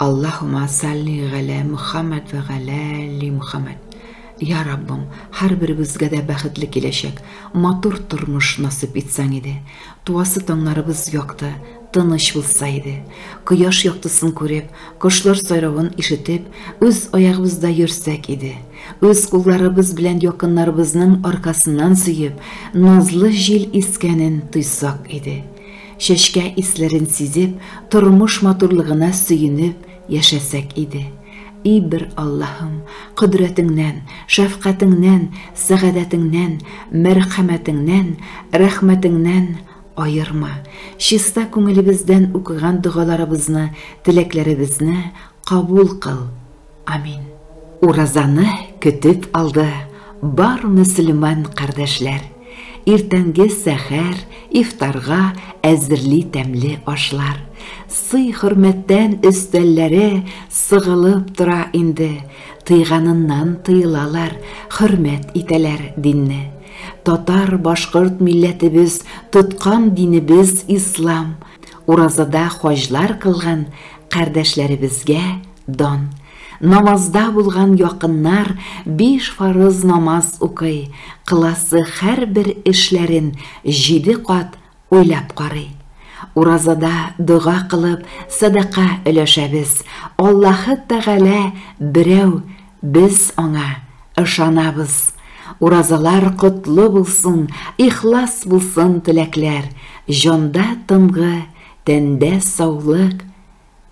Аллаһума салли галә Мөхәммәд вә галә ли Мөхәммәд. Я Раббым, һәрберебезгә дә бәхетле киләчәк, матур тормыш насыйп итсәң иде. Туасы таңнарыбыз якты, тыныч булса иде. Кояш яктысын күреп, кошлар сайравын ишетеп, үз аягыбызда йөрсәк иде. Үз кулларыбыз белән якыннарыбызның аркасыннан сөеп, назлы җил искәнен тойсак иде. Чәчкә исләрен сизеп, тормыш матурлыгына сөенеп яшәсәк иде. И бер Аллаһым, кодрәтеңнән, шәфкатеңнән, сәгадәтеңнән, мәрхәмәтеңнән, рәхмәтеңнән аерма, чиста күңелебездән укыган догаларыбызны, теләкләребезне кабул кыл! Амин. Уразаны көтеп алды бар мөселман кардәшләр. Иртәнге сәхәр, ифтарга әзерли тәмле ашлар. Сый-хөрмәттән өстәлләре сыгылып тора инде. Тыйганыннан тыелалар, хөрмәт итәләр динне. Татар-башкорт милләтебез тоткан динебез ислам. Уразада хаҗлар кылган кардәшләребезгә Дан. Намазда булган якыннар биш фарыз намаз укый, кыласы һәрбер эшләрен җиде кат уйлап карый. Уразада дога кылып, садака өләшәбез. Аллаһы Тәгалә берәү, без аңа ышанабыз. Уразалар котлы булсын, ихлас булсын теләкләр, җанда тынгы Тәндә саулык,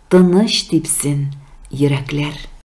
тыныч типсен йөрәкләр.